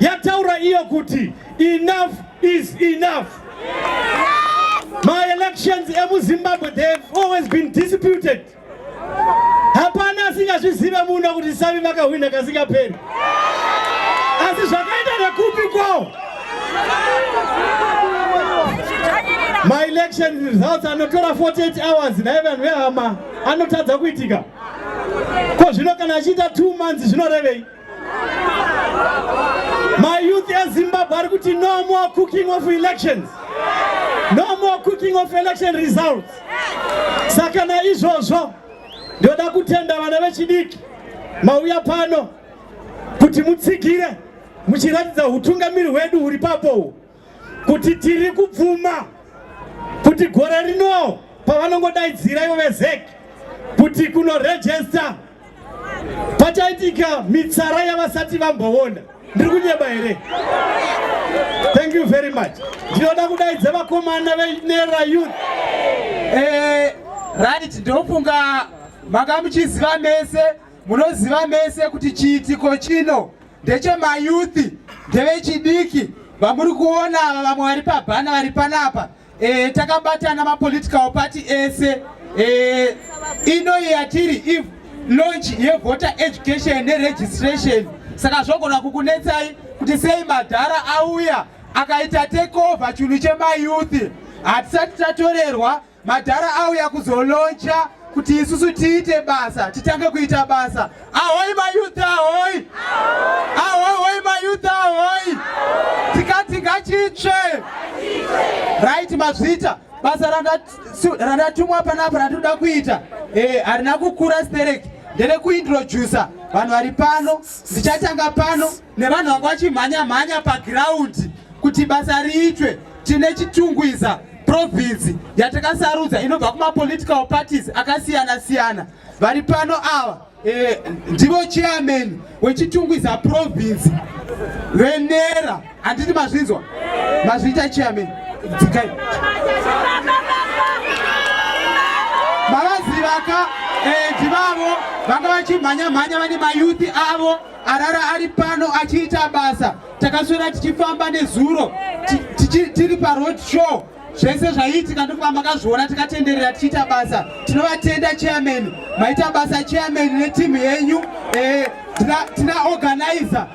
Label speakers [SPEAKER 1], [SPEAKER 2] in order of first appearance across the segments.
[SPEAKER 1] yataura iyo kuti enough is enough maelections emuzimbabwe they have always been disputed hapana asingazvizive muno kuti sami vakahwina kasingaperi asi zvakaita nekupi kwawo maelection results anotora 48 hours naye vanhu vehama anotadza kuitika ko zvino kana achiita two months zvinorevei mayouth ezimbabwe ari kuti no more cooking of elections no more cooking of election results saka naizvozvo ndoda kutenda vana vechidiki mauya pano kuti mutsigire muchiratidza utungamiri hwedu huri papowo kuti tiri kubvuma kuti gore rino pavanongodaidzira ivo vezec kuti kunorejesta pachaitika mitsara yavasati vamboona ndiri kunyeba here thank you very much ndinoda kudaidza vakomana venera youth eh,
[SPEAKER 2] right ndofunga makamuchiziva mese munoziva mese kuti chiitiko chino ndechemayuthi ndevechidiki vamuri kuona ava vamwe vari pabhana vari panapa e, takabatana mapolitical party ese e, inoyi yatiri if launch yevoter education neregistration saka zvogona kukunetsai kuti sei madhara auya akaita takeover chinhu chemayuthi hatisati tatorerwa Madhara auya kuzoloncha kuti isusu tiite basa, titange kuita basa. Ahoi mayouth ahoi! Ahoi hoi mayouth ahoi! Tikati ngachitsve! Right mazvita, basa randatumwa panapa randinoda kuita eh, harina kukura stereki, ndere kuintroducer vanhu vari pano, ndichatanga pano. nevanhu vanga vachimhanya mhanya pagiraundi kuti basa riitwe tine chitungwiza province yatakasarudza inobva kumapolitical parties akasiyana siyana vari pano ava eh, ndivo chairman wechitungwiza province venera handiti mazvinzwa mazviita chairman dzikai mavazivaka eh, ndivavo vanga vachimhanya mhanya vane mayuthi avo arara ari pano achiita basa takaswera tichifamba nezuro tiri paroad show zvese zvaiitika ndokuva makazviona tikatenderera tichiita basa tinovatenda chairman maita basa chairman netimu yenyu eh, tina organizer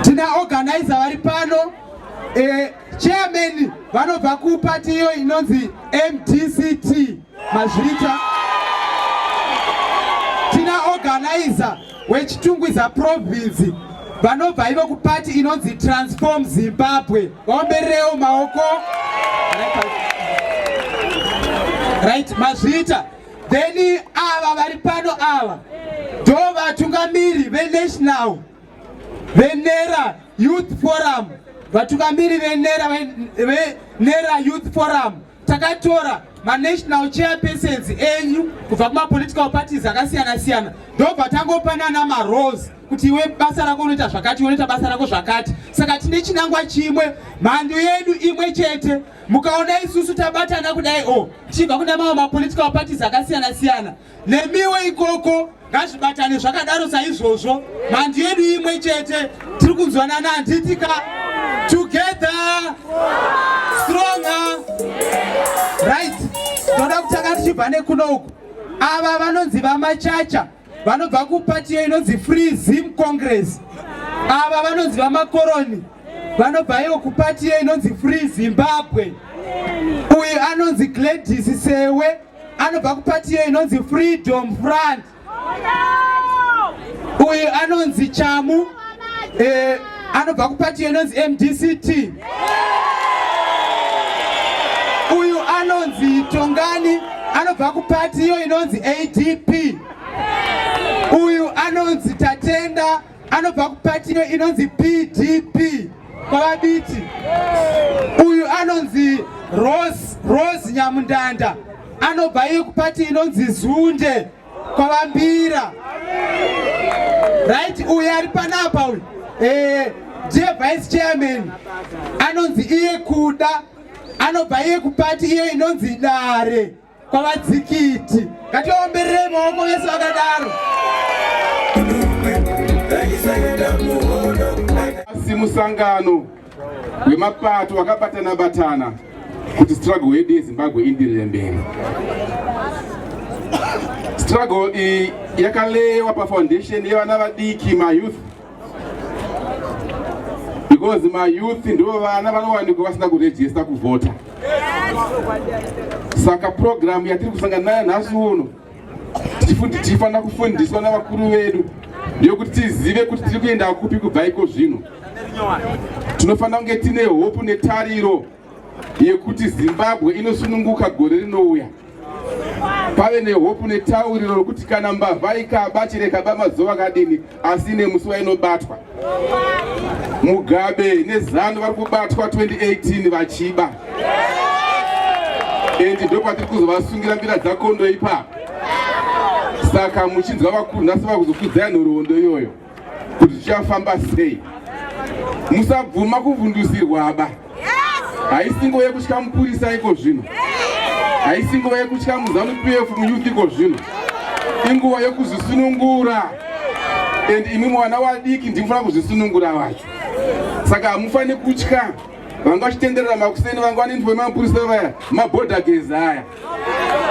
[SPEAKER 2] tina organizer vari pano eh, chairman vanobva kupati iyo inonzi mdct Mazvita tina organizer wechitungwiza province vanobva ivo kupati inonzi transform zimbabwe vaombererewo maoko right mazvita then ava vari pano ava ndo vatungamiri venational venera youth forum vatungamiri venera venera youth forum takatora manational chairpersons enyu kubva kumapolitical parties akasiyana siyana ndobva tangopanana marose kuti iwe basa rako unoita zvakati iwe unoita basa rako zvakati saka tine chinangwa chimwe mhandu yedu imwe chete mukaona isusu tabatana kudai o oh, tichibva kune mamwe mapolitical parties akasiyana siyana nemiwo ikoko ngazvibatane zvakadaro saizvozvo mandi yedu imwe chete tiri kunzwanana handitika together stronger right toda kutanga tichibva nekuno uku ava vanonzi vamachacha vanobva kupatiyo inonzi free zim congress ava vanonzi vamakoroni vanobva iyo kupatiyo inonzi free zimbabwe uyu anonzi gladys sewe anobva kupatiyo inonzi freedom front uyu anonzi chamu eh, anobva kupatiyo inonzi mdct uyu anonzi tongani anobva kupatiyo inonzi adp uyu anonzi tatenda anobva kupatino inonzi pdp kwavabiti uyu anonzi rose rose nyamundanda anobva iye kupati inonzi zunde kwavambira right uyu ari panapa uyu eh, ndiye vice chairman anonzi iye kuda anobva iye kupati iye inonzi dare kwavadzikiti ngatiomberere maoko vese vakadaro
[SPEAKER 3] asi musangano wemapato wakabatana batana kuti struggle yedu yezimbabwe indirire mberi struggle iyi yakalewa pafoundation yevana vadiki mayouth because mayouth ndivo vana vanowanikwa vasina kurejista kuvhota saka purogiramu yatiri kusangana nayo nhasi uno tichifanira kufundiswa navakuru vedu ndeyokuti tizive kuti tiri kuenda kupi kubva iko zvino tinofanira kunge tine hope netariro yekuti Zimbabwe inosununguka gore rinouya pave nehopu netauriro rokuti kana mbavha ikaba chirekaba mazuva akadini asi nemusi wainobatwa mugabe nezanu vari kubatwa 2018 vachiba endi ndopatiri kuzovasungira mbira dzakondo ipapo saka muchinzwa vakunhasi vakuzokudzai nhoroondo iyoyo kuti zvichafamba sei musabvuma kuvhundusirwaba haisi nguva yekutya mupurisa iko zvino haisi nguva yekutya muzanu pf muyouth iko zvino inguva yekuzvisunungura and imwe mwana wadiki ndimufana kuzvisunungura vacho saka hamufaniri kutya vanga vachitenderera makuseni vanga vanendivo vemapurisa vaya mabhodha gezi aya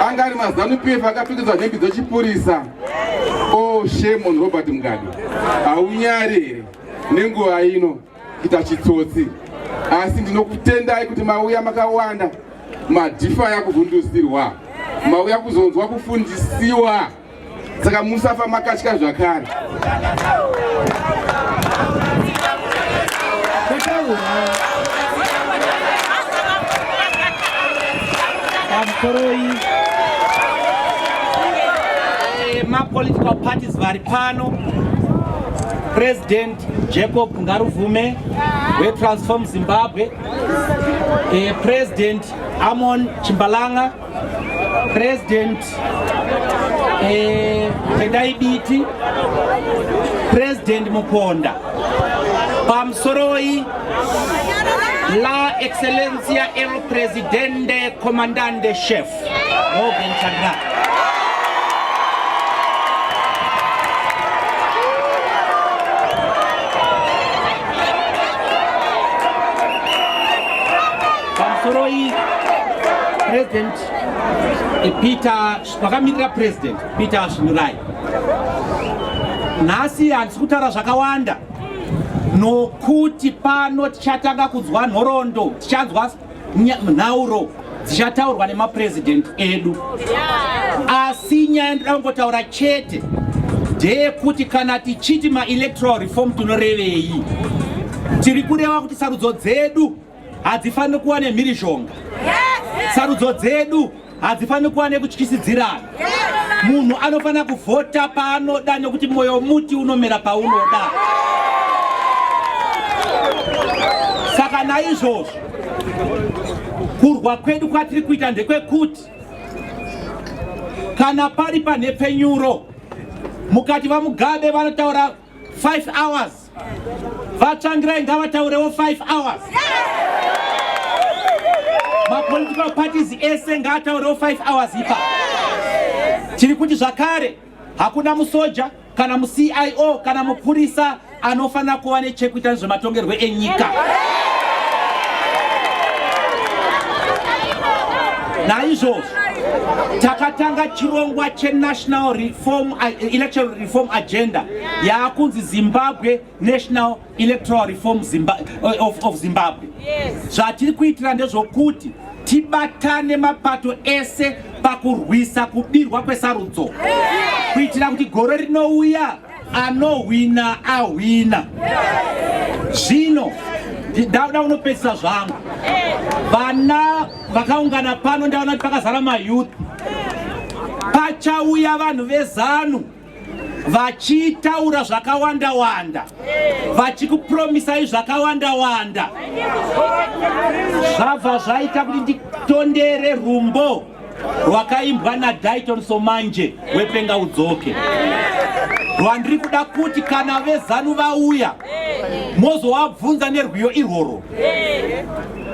[SPEAKER 3] anga ari mazanu pf akapfekedzwa nhembi dzechipurisa o oh, shame on robert mugado haunyari here nenguva ino kuita chitsotsi asi ndinokutendai kuti mauya makawanda madhifa yakuvhundusirwa mauya kuzonzwa kufundisiwa saka musafa makatya zvakare eh,
[SPEAKER 1] mapolitical parties vari pano president jacob ngaruvume wetransform zimbabwe eh, president amon chimbalanga President eh, Tendai Biti, President Muponda, Pamsoroi, La Excellencia El Presidente Comandante Chef, Morgan Chandra. Pamusoroi President eh, Peter vakamirira President Peter Svinurai nhasi handisi kutaura zvakawanda nokuti pano tichatanga kunzwa nhorondo tichanzwa nhauro dzichataurwa nemapresident edu asi nyaya ndoda kungotaura chete ndeyekuti kana tichiti maelectoral reform tinorevei tiri kureva kuti sarudzo dzedu hadzifaniri kuva nemhirizhonga sarudzo dzedu hadzifaniri kuva nekutyisidzirana munhu anofanira kuvhota paanoda nekuti mwoyo muti unomera paunoda saka naizvozvo kurwa kwedu kwatiri kuita ndekwekuti kana pari panhepfenyuro mukati vamugabe vanotaura 5 hours vatsvangirai ngavataurewo 5 hours mapolitical parties ese ngaataurewo 5 hours ipa tiri kuti zvakare hakuna musoja kana mucio kana mupurisa anofanira kuva nechekuita nezvematongerwo enyika naizvozvo
[SPEAKER 4] takatanga chirongwa chenational reform eh, election reform agenda yaakunzi zimbabwe national electoral reform Zimba, eh, of, of zimbabwe zvatiri yes. kuitira ndezvokuti tibatane mapato ese pakurwisa kubirwa kwesarudzo yes. kuitira kuti gore rinouya anohwina ahwina zvino yes. ndauda unopedzisa zvangu vana Vakaungana pano ndaona kuti pakazara mayouth. Pachauya vanhu vezanu vachitaura zvakawanda wanda vachikupromisai zvakawanda wanda zvabva zvaita kuti nditondere rumbo rwakaimbwa nadaiton somanje wepenga udzoke rwandiri kuda kuti kana vezanu vauya mozovabvunza nerwiyo irworwo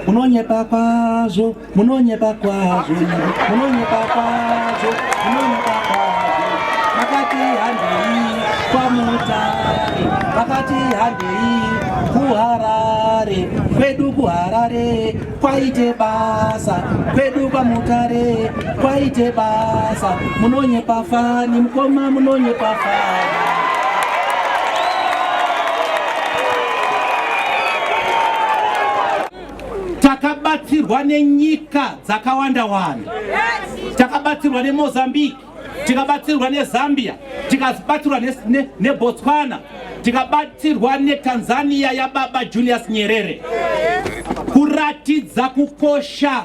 [SPEAKER 4] munonyepa kwazvo munonyepa kwazvo munonyepa kwazvo munonyepa kwazvo vakati handei kwamutare vakati handei kuharare kwedu kuharare kwaite basa kwedu kwamutare kwaite basa munonyepa fani mukoma munonyepa fani takabatsirwa nenyika dzakawanda wanda takabatsirwa nemozambique tikabatsirwa nezambia tikabatsirwa nebotswana ne, ne tikabatsirwa netanzania yababa julius nyerere kuratidza kukosha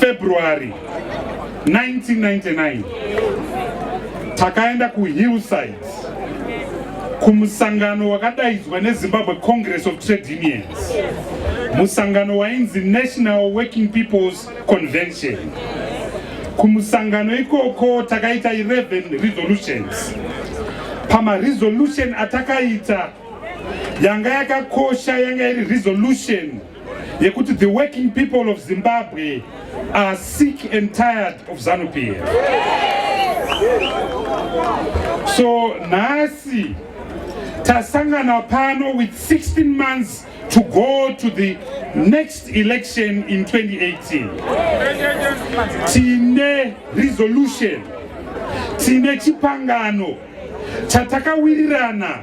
[SPEAKER 5] February 1999 takaenda kuhillside kumusangano wakadaidzwa nezimbabwe congress of trade unions musangano wainzi national working peoples convention kumusangano ikoko takaita 11 resolutions pamaresolution atakaita yanga yakakosha yanga iri resolution yekuti the working people of Zimbabwe are sick and tired of Zanupie. So nasi tasangana pano with 16 months to go to the next election in 2018. Tine resolution, tine chipangano chatakawirirana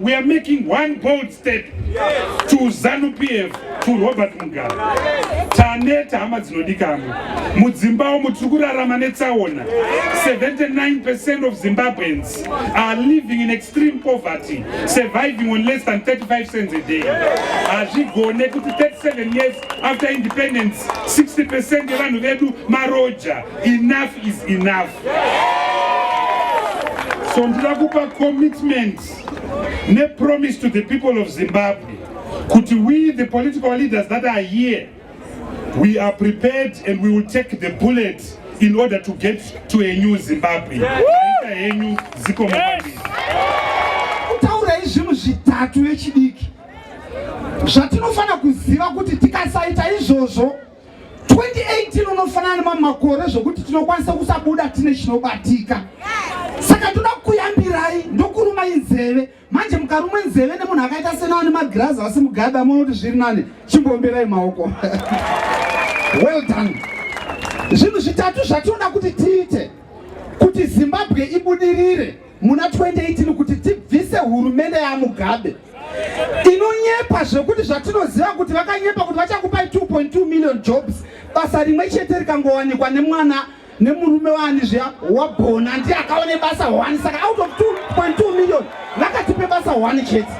[SPEAKER 5] We are making one bold step to Zanu PF to Robert Mugabe. Taneta hama dzinodikamwa. Mudzimba umu tiri kurarama netsaona. 79% of Zimbabweans are living in extreme poverty, surviving on less than 35 cents a day. Hazvigone kuti 37 years after independence, 60% yevanhu vedu maroja. Enough is enough. so ndida kupa commitment nepromise to the people of zimbabwe kuti we the political leaders that are here we are prepared and we will take the bullet in order to get to a new zimbabwe aita henyu ziko
[SPEAKER 2] kutaurai zvinhu zvitatu vechidiki zvatinofanira kuziva kuti tikasaita izvozvo 2018 unofanana nemamwe makore zvokuti tinokwanisa kusabuda tine chinobatika saka toda kuyambirai ndokuruma inzeve manje mukarumwe nzeve nemunhu akaita sena ane magirazi asi mugada muona kuti zviri nani chimboomberai maoko well done zvinhu zvitatu zvatinoda kuti tiite kuti zimbabwe ibudirire muna 2018 kuti tibvise hurumende yamugabe inonyepa zvekuti zvatinoziva kuti vakanyepa kuti vachakupai 2.2 million jobs basa rimwe chete rikangowanikwa nemwana nemurume waani zviya wabhona ndiye akaone basa one saka out of 2.2 million vakatipe basa one chete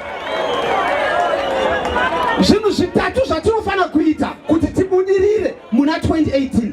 [SPEAKER 2] zvinhu zvitatu zvatinofanira kuita kuti tibudirire muna 2018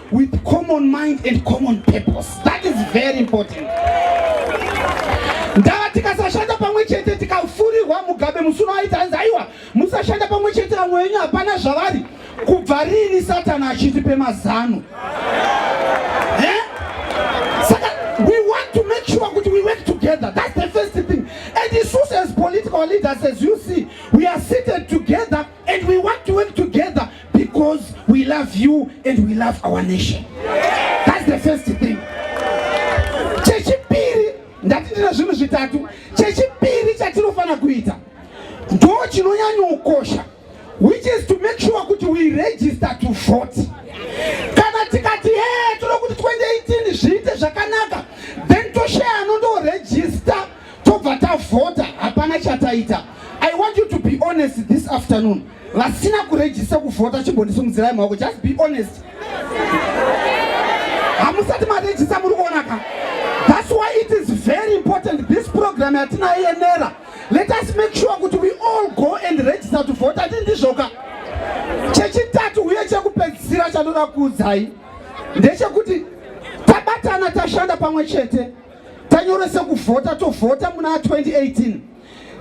[SPEAKER 2] with common mind and common purpose that is very important ndava tikasashanda pamwe chete tikafurirwa mugabe
[SPEAKER 6] musuno aita hanzi aiwa musashanda pamwe chete vamwe venyu hapana zvavari kubva riini satani achitipe mazano eh? saka we want to make sure kuti we work together that's the first thing and isus as political leaders as you see we are seated together And we want to work together because we love you and we love our nation. That's the first thing. Chechipiri ndati ndina zvinhu zvitatu. Chechipiri chatinofana kuita ndo chinonyanyokosha which is to make sure kuti we register to vote. Kana tikati hey, tinoda kuti 2018 zviite zvakanaka then toshaya anondo register tobva tavhota hapana chataita i want you to be honest this afternoon vasina kurejista kuvhota chimbondisumudzirai maoko just be honest hamusati marejista muri kuona ka thats why it is very important this program yatinayo yenera let us make sure kuti we all go and register to vhota ti ndizvoka chechitatu uye chekupedzisira chanoda kuudzai ndechekuti tabatana tashanda pamwe chete tanyoresa kuvhota tovhota muna 2018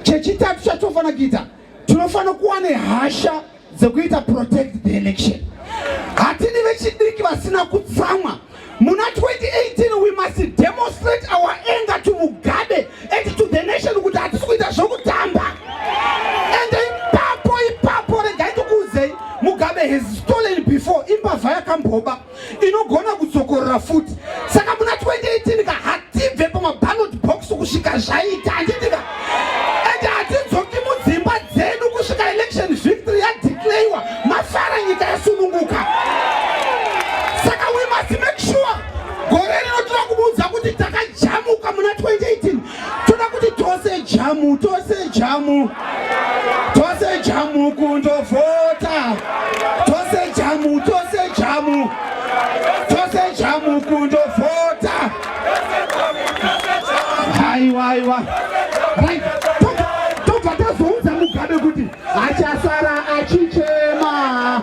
[SPEAKER 6] chechitatu chatofanira kuita tinofanira kuva nehasha dzekuita protect the election hatini vechidiki vasina kutsamwa muna 2018 we must demonstrate our anger to mugabe and to the nation kuti hatisi kuita zvokutamba and ipapo ipapo regai tokuudzei mugabe has stolen before imbavha yakamboba inogona kudzokorora futi saka muna 2018 ka hatibve pamaballot box kusvika zvaita handitika and hatidzoki mudzimba dzedu kusvika election victory yadeclayiwa mafara nyika yasununguka saka we must make sure gore rino tinokubuudza kuti takajamuka muna 2018 toda kuti tose jamu tose jamu tose jamu kundovhota tose jamu tose jamu tose jamu kundovhota haiwa haiwa tobva tazoudza mugabe kuti achasara achichema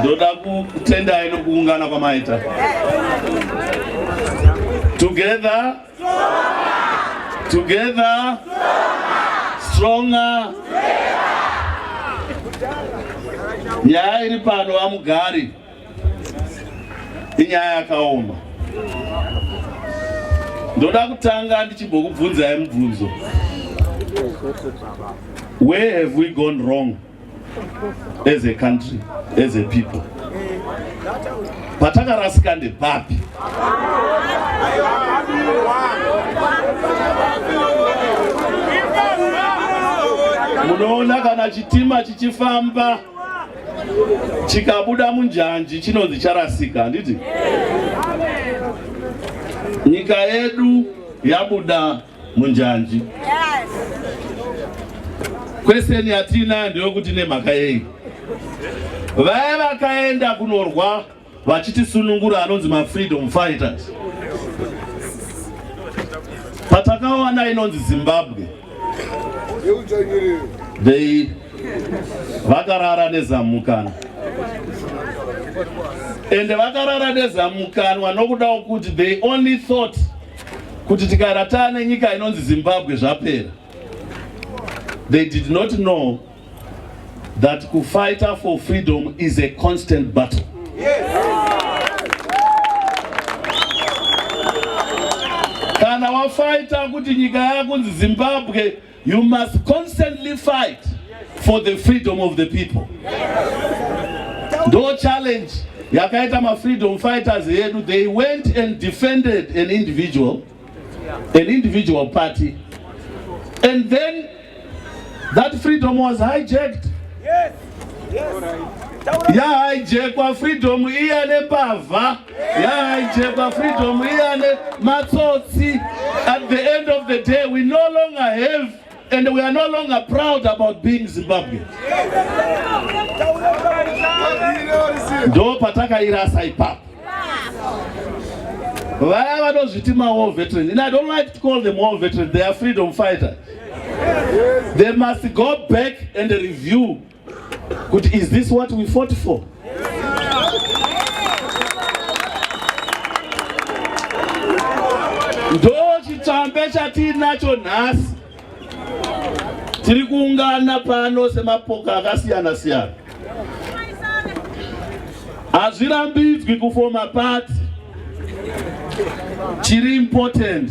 [SPEAKER 7] ndoda kutendai nokuungana kwamaita together together stronger nyaya iri pano vamugari inyaya yakaoma ndoda kutanga ndichimbokubvunzai mubvunzo where have we gone wrong as a country as a people patakarasika ndepapi munoona kana chitima chichifamba chikabuda munjanji chinonzi charasika handiti nyika yedu yabuda munjanji kweseni yatina ndeyokuti nemhaka yei vaya vakaenda kunorwa vachitisunungura anonzi mafreedom fighters patakawana inonzi zimbabwe they vakarara nezamukana ende vakarara nezamukanwa nokudawo kuti they only thought kuti tikaratana nenyika inonzi Zimbabwe zvapera. They did not know that kufighter for freedom is a constant battle. Yes. Kana wafighter kuti nyika yakunzi Zimbabwe You must constantly fight for the freedom of the people. Ndo challenge yakaita ma freedom fighters yedu they went and defended an individual an individual party and then that freedom was hijacked yes yes yeah hijackwa freedom iya nepavha yaaichekwa freedom iyane matsotsi at the end of the day we no longer have and we are no longer proud about being zimbabwe ndo patakairasa ipapo vaya vanozviti mawar veterans and i don't like to call them war veterans they are freedom fighters they must go back and review kuti is this what we fought for ndo chitsvambe chatiinacho nhasi tiri kuungana pano semapoka akasiyana siyana hazvirambidzwi kufoma pati chiri important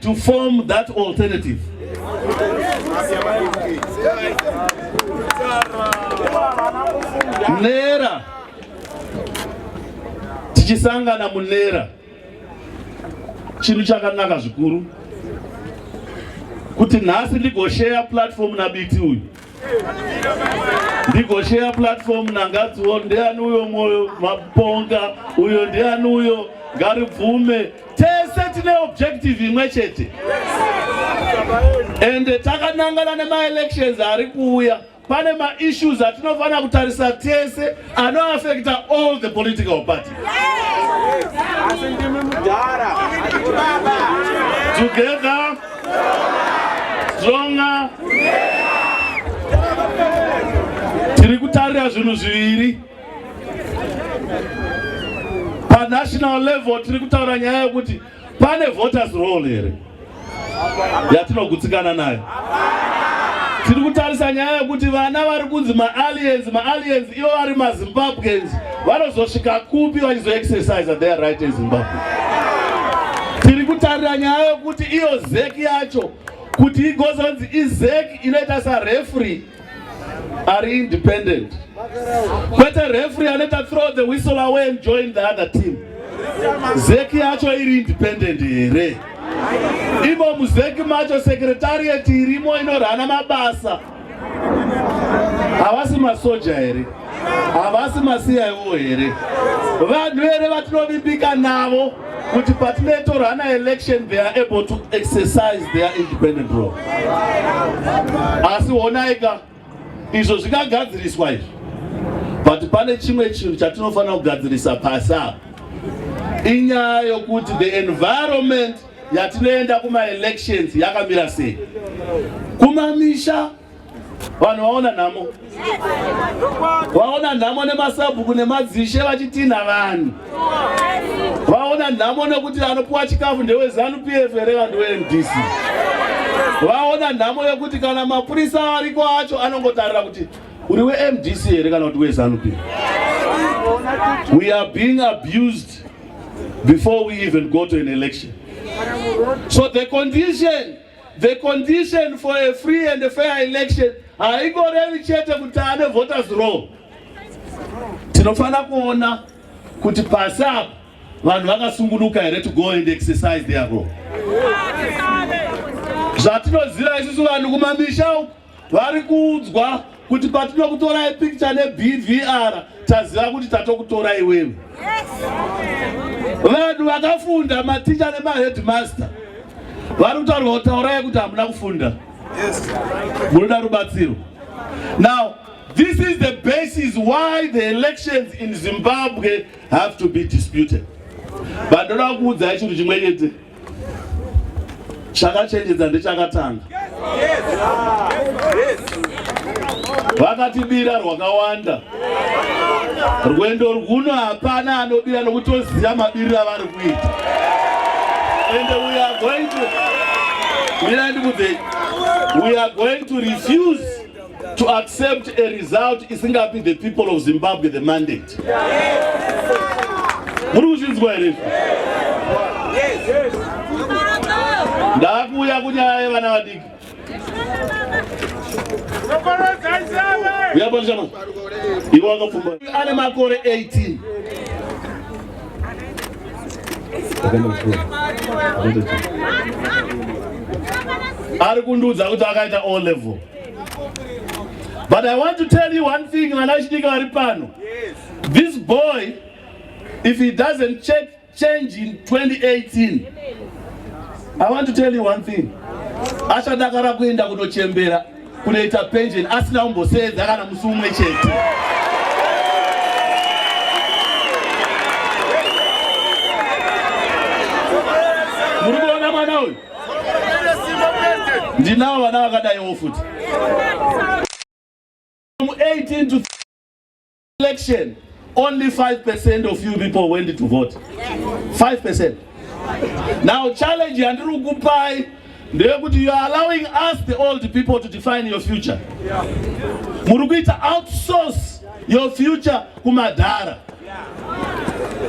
[SPEAKER 7] to form that alternative nera tichisangana munera chinhu chakanaka zvikuru kuti nhasi ndigosheya platform nabiti uyu ndigosheya platform nangadziwo ndiani uyo mwoyo maponga uyo ndiani uyo ngaribvume tese tine objective imwe chete ende takanangana nemaelections ari kuuya pane maissues atinofanira kutarisa tese anoafekta all the political party together stronger tiri kutarira zvinhu zviviri panational level tiri kutaura nyaya yekuti pane voters roll here yatinogutsikana nayo tiri kutarisa nyaya yekuti vana vari kunzi maaliens maaliens ivo vari mazimbabweans vanozosvika kupi vachizoexercise their right ezimbabwe tiri kutarira nyaya yekuti iyo zeki yacho kuti igozonzi izeki inoita sarefree ari independent kwete refree anoita throw the whistle away and join the other team zeki yacho iri independent here imo muzeki macho secretariat irimo inorana mabasa havasi masoja here havasi masiyawo here vanhu here vatinovimbika navo kuti patinoitorana election they are able to exercise their independent role asi honaika izvo zvikagadziriswa izvi but pane chimwe chinhu chatinofanira kugadzirisa pasi apa inyaya yokuti the environment yatinoenda kumaelections yakamira sei kumamisha vanhu vaona nhamo vaona nhamo nemasabhuku nemadzishe vachitinha vanhu vaona nhamo nekuti anopiwa chikafu ndewezanu p f here vanhu wemdc vaona nhamo yekuti kana mapurisa ariko acho anongotarira kuti uri wemdc here kana kuti wezanu p we are being abused before we even go to an election so the condition The condition for a free and a fair election haingorevi chete kuti ane voters roll. Tinofanira kuona kuti pasi apa vanhu vakasungunuka here to go and exercise their role. Zvatinoziva isusu vanhu kumamisha uku vari kuudzwa kuti patinokutorai pikicha nebvr taziva kuti tatokutorai wewe vanhu vakafunda maticha nemaheadmaster vari kutaurwa kutaurai kuti hamuna kufunda munoda rubatsiro now this is the basis why the elections in zimbabwe have to be disputed vandoda kuudzai chinhu chimwe chete chakachenjedza ndechakatanga vakatibira rwakawanda rwendo rwuno hapana anobira nokutoziva mabiriro avari kuita and we are going to mira ndikudzei we are going to refuse to accept a result isingapi the people of zimbabwe the mandate muri kuzvinzwa here ndakuuya kunyaya yevana vadiki uyapandishama ivo wakapfumba ane makore 18 ari kundiudza kuti akaita o level But I want to tell you one thing, Vanashidika Varipano. Yes. This boy, if he doesn't check, change in 2018, I want to tell you one thing. Achadakara kuenda kunochembera kunoita pension asina kumboseedza kana musi umwe chete. Muri kuona mwana uyu? ndinawo vana vakadaiwo futi from 18 to election only 5 percent of you people went to vote 5 percent now challenge yandiri kukupai ndeyekuti youare allowing us the old people to define your future muri kuita outsource your future kumadhara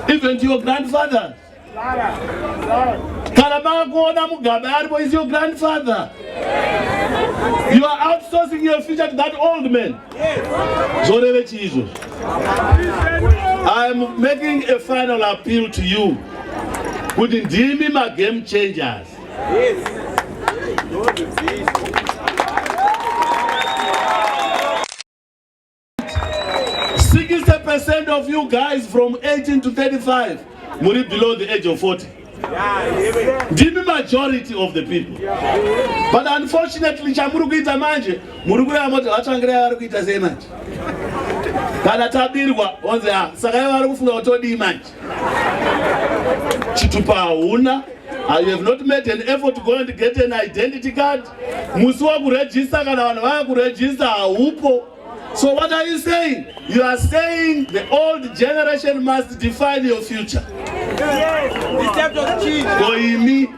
[SPEAKER 7] even to your grandfathers kana makuona mugabe aripo is your grandfather you are outsourcing your future to that old man zvoreve chii izvozvo i am making a final appeal to you kuti ndimi magame changers yes. 60% of you guys from 18 to 35 muri below the age of 40 ndimi majority of the people but unfortunately chamuri kuita manje muri kuya moti vatsvangirai vari kuita sei manje kana tabirwa onzi a ah, saka ivo vari kufunga kuti odii manje chitupa hauna ah, you have not made an effort to go and get an identity card musi wakurejista kana vanhu vava kurejista haupo So what are you saying? You are saying the old generation must define your future. Koimi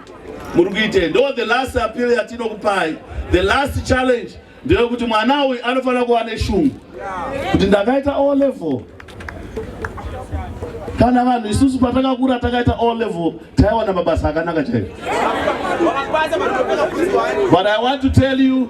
[SPEAKER 7] murikuite ndo the last appeal yatinokupai. The last challenge ndeyekuti mwana uyu anofanira kuva neshungu kuti ndakaita o level kana vanhu isusu patakakura takaita o level taiwana mabasa akanaka chaivo but i want to tell you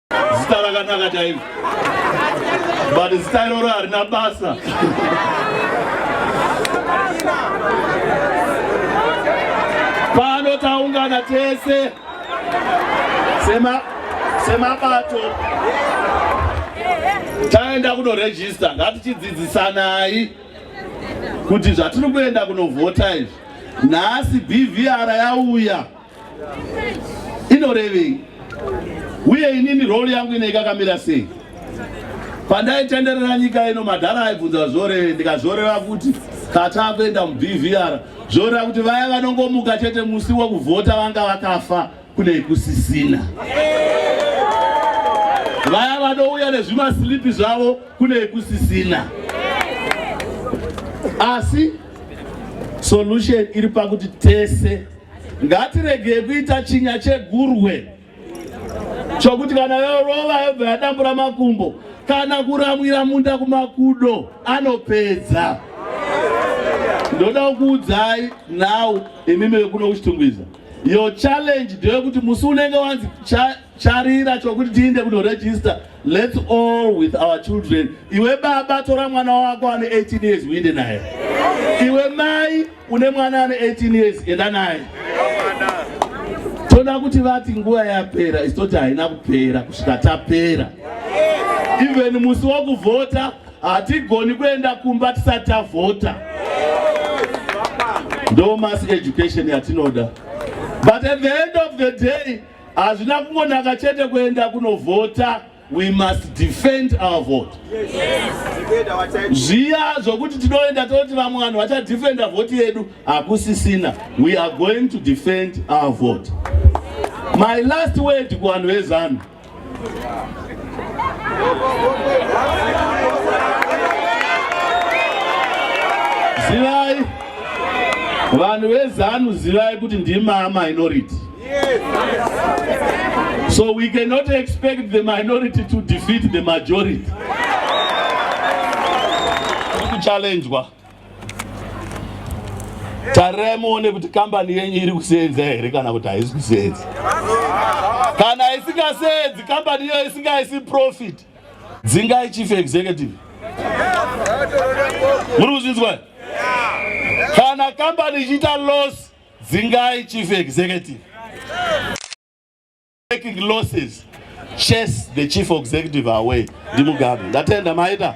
[SPEAKER 7] zita rakanaka chairo but zita iroro harina basa pano taungana tese sema semabato taenda kunorejista ngatichidzidzisanai kuti zvatiri kuenda kunovhota izvi nhasi bvr yauya inorevei uye inini role yangu ine ikakamira sei pandaitenderera nyika ino madhara aibvunza zvoreve ndikazvoreva kuti kataa kuenda mubvr zvoreva kuti vaya vanongomuka chete musi wekuvhota vanga vakafa kune kusisina vaya vanouya nezvimasilipi zvavo kune kusisina asi solution iri pakuti tese Ngatiregei kuita chinya chegurwe chokuti kana yorova yobva yadambura makumbo kana kuramwira munda kumakudo anopedza. Ndoda kukuudzai now imimi vekuno kuchitungwiza your challenge ndeyekuti musi unenge wanzi charira chokuti tiinde kunoregister let's all with our children iwe baba tora mwana wako ane 18 years uinde naye iwe mai Une mwana ane 18 years enda naye. Toda kuti vati nguva yapera isitoti haina kupera kusvika tapera. Even musi wokuvhota hatigoni kuenda kumba tisati tavhota. Ndo mass education yatinoda. But at the end of the day hazvina kungonaka chete kuenda kunovhota. We must defend our vote. Zviya zvokuti tinoenda toti vamwe vanhu vachadefenda vhoti yedu hakusisina. We are going to defend our vote. My last word kuvanhu vezanu. Zivai vanhu vezanu zivai kuti ndima minority. Yes. Yes. So we cannot expect the minority to defeat the majority. Kuchallenjwa. Tarirai muone kuti kambani yenyu iri kuseenza here kana kuti haisi kuseenza. Kana isingaseenzi kambani iyo isingaisi profit. Dzingai chief executive. Muri kuzvinzwa? Kana kambani ichiita loss Dzingai chief executive. Taking losses. Chase the chief executive away. Ndimugabe. Ndatenda maita.